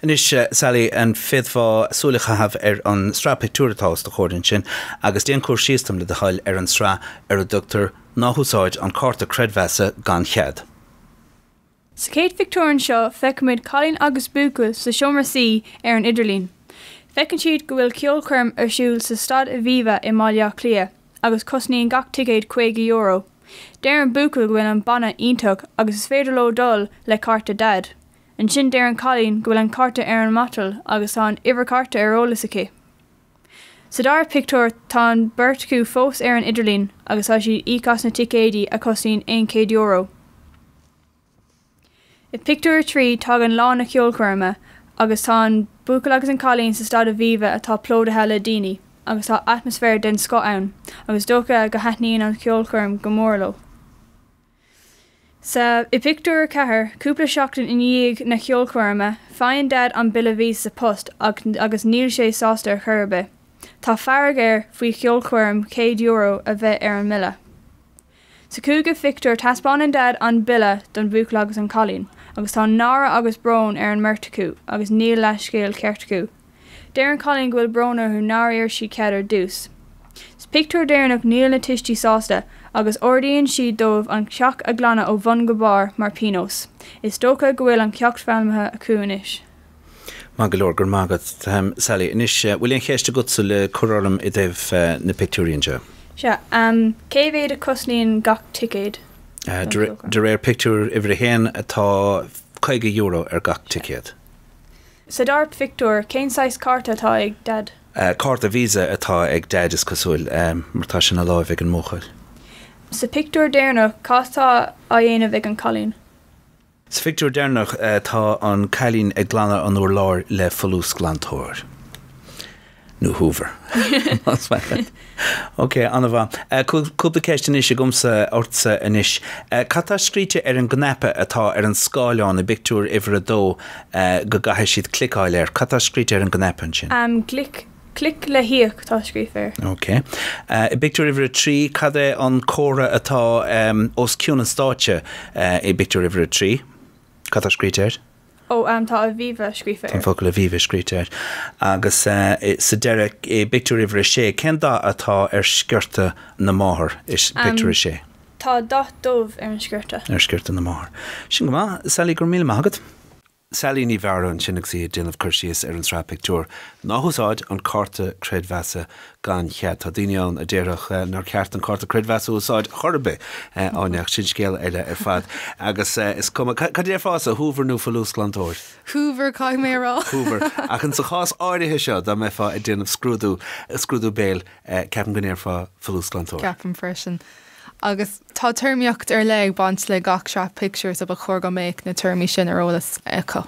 Anois, Sally, an bhféadfá súil a chaitheamh ar an sraith pictiúr atá os do chomhair ansin agus déan cur síos dom, le do thoil, ar an tsraith ar a dtugtar 'Ná hÚsáid an Cárta Creidmheasa gan Chead'? Sa chéad phictiúr anseo feicimid cailín agus buachaill sa seomra suí ar an idirlíon. Feiceann siad go bhfuil ceolchoirm ar siúl sa staid Aviva i mBaile Átha Cliath. agus cosnaíonn gach ticéad caoga euro. Deir an buachaill go bhfuil an banna iontach agus is féidir leo dul le cárta Dhaid. Ansin deir an cailín go bhfuil an cárta ar an matal agus tá an uimhir cárta ar eolas aici. Sa dara pictiúr tá an bheirt acu fós ar an idirlíon agus tá siad íoc as na ticéidí a chosnaíonn aon chéad euro. I bpictiúr a trí, tagann lá na ceolchoirme agus tá an buachaill agus an cailín sa staid Aviva atá plódaithe le daoine agus tá atmaisféar den scoth ann agus is dócha go thaitníonn an cheolchoirm go mór leo. Sa, i bpictiúr a ceathair, cúpla seachtain i ndiaidh na ceolchoirme, faigheann Dad an bille visa sa phost agus níl sé sásta ar chor ar bith, tá fearg air faoi cheolchoirm céad euro a bheith ar an mbille. Sa chúigiú phictiúr, taispeánann Dad an bille don bhuachaill agus an cailín agus tá náire agus brón ar an mbeirt acu agus níl leathscéal ceart acu. Deir an cailín go bhfuil brón orthu nár iarr siad cead ar dtús. Sa pictiúr deireanach níl na tuistí sásta agus ordaíonn siad dóibh an teach a ghlanadh ó bhun go barr mar píonós. Is dócha go bhfuil an ceacht foghlamtha acu anois. Maith go leor, go raibh maith agat, Sally. Anois, bhfuil aon cheist agatsa le cur orm i dtaobh na pictiúirí anseo? Sea, cé mhéad a chosnaíonn gach ticéad? De réir pictiúr uimhir a haon, tá €50 ar gach ticéad. Sa dara pictiúr, cén saghas cárta atá ag Dad? Cárta Visa atá ag Daid, is cosúil, mar tá sé ina láimh ag an mbuachaill. Sa pictiúr deireanach, cad tá á dhéanamh ag an gcailín? Sa phictiúr deireanach tá an cailín ag glanadh an urláir le folúsghlantóir. Nó hoover. Ok, an-mhaith. Cúpla ceist anois agamsa, ortsa anois. Cad tá scríte ar an gcnaipe atá ar an scáileán i bpictiúr uimhir a dó go gcaithfidh siad cliceáil air? Cad tá scríte ar an gcnaipe ansin? Clic Clic le híoc, tá scríofa air. OK. I bpictiúr uimhir a trí, cad é an comhartha atá os cionn an stáitse i bpictiúr uimhir a trí? Cad tá scríte air? Ó, tá Aviva scríofa air. Tá an focal Aviva scríte air. Agus sa deireadh, i bpictiúr uimhir a sé, cén dath atá ar sciorta na máthar i bpictiúr a sé? Tá dath dubh ar an sciorta. ar sciorta na máthar. Sin go maith. Sally, go raibh míle maith agat. Sally Ní Mheara ansin agus í ag déanamh cur síos ar an sraith pictiúr, 'Ná húsáid an cárta creidmheasa gan chead'. Tá daoine ann a déarfadh nár cheart an cárta creidmheasa a úsáid chor ar bith, Áine, ach sin scéal eile ar fad. Agus is cuma cad a déarfása, Hoover nó folúsghlantóir? Hoover, caithfidh mé a rá. Hoover. Ach in sa chás áirithe seo, dá mbeifeá ag déanamh scrúdú, scrúdú béil, ceapaim go ndéarfá folúsghlantóir. Ceapaim freisin. Agus tá téarmaíocht ar leith ag baint le gach sraith pictiúr so ba chóir go mbeadh na téarmaí sin ar eolas acu.